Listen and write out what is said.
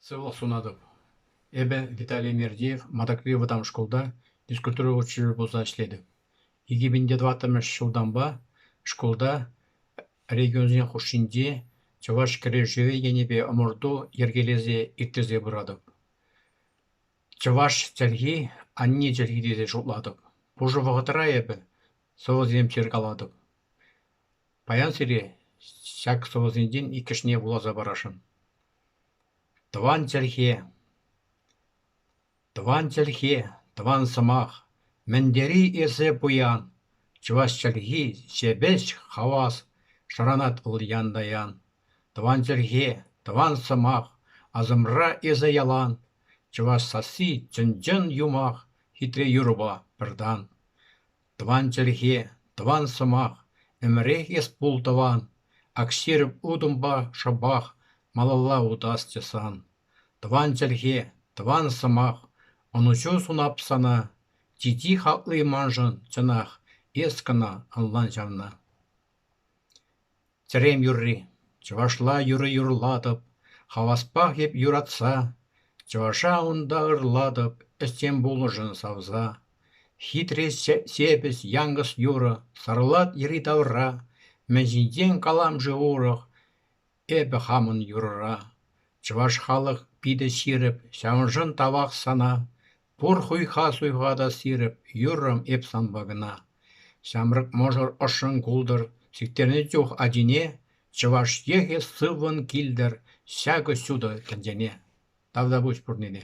Сывлӑх сунатӑп. Эпӗ Виталий Мердиев Матакри вӑтам шкулта физкультура учителӗ пулса ӗҫлетӗп. Икӗ мӗн те тӑваттӑмӗш ҫултанпа шкулта регионсен хушшинчи чӑваш кӗрешӗвӗ енӗпе ӑмӑрту йӗркелесе ирттерсе пыратӑп. Чӑваш чӗлхи – анне чӗлхи тесе шутлатӑп. Пушӑ вӑхӑтра эпӗ сӑвӑсем ҫыркалатӑп. Паян сире ҫак сӑвӑсенчен иккӗшне вуласа парасшӑн. Тӑван чӗлхе, тӑван чӗлхе, тӑван сӑмах, мӗн тери эсӗ пуян, чӑваш чӗлхи, ҫепӗҫ хавас, шӑранать вӑл ян-таян. Тӑван чӗлхе, тӑван сӑмах, асӑмра эсӗ ялан, чӑваш сасси чӑн-чӑн юмах, хитре юрӑпа пӗр тан. Тӑван чӗлхе, тӑван сӑмах, ӗмӗрех эс пул тӑван, Акҫырӑп утӑмпа шӑпах малалла утасчӗ сан. Тӑван чӗлхе, тӑван сӑмах, ӑнӑҫу сунап сана, Чи-чи хакли маншӑн чӑнах эс кӑна ӑнлан ҫавна. Тӗрем юрри чӑвашла юрӑ юрлатӑп, Хаваспах эп юратса, чӑваша унта ырлатӑп Ӗҫсем пулӑшӑн савса. Хитре сепӗс янкӑс юрӑ Сарлат йӗри-тавра, Мӗн ҫинчен калам-ши урӑх Эпӗ хамӑн юрӑра? Чӑваш халӑх питӗ ҫирӗп, Ҫавӑншӑн тавах сана. Пур хуйха суйхатас ирӗк юррӑм эп санпа кӑна. Ҫамрӑк мӑшӑр ӑшшӑн култӑр, сиктернӗ чух ачине чӑваш йӑхӗ сыввӑн килтӗр ҫакӑ ҫутӑ тӗнчене. Тавтапуҫ пурнине.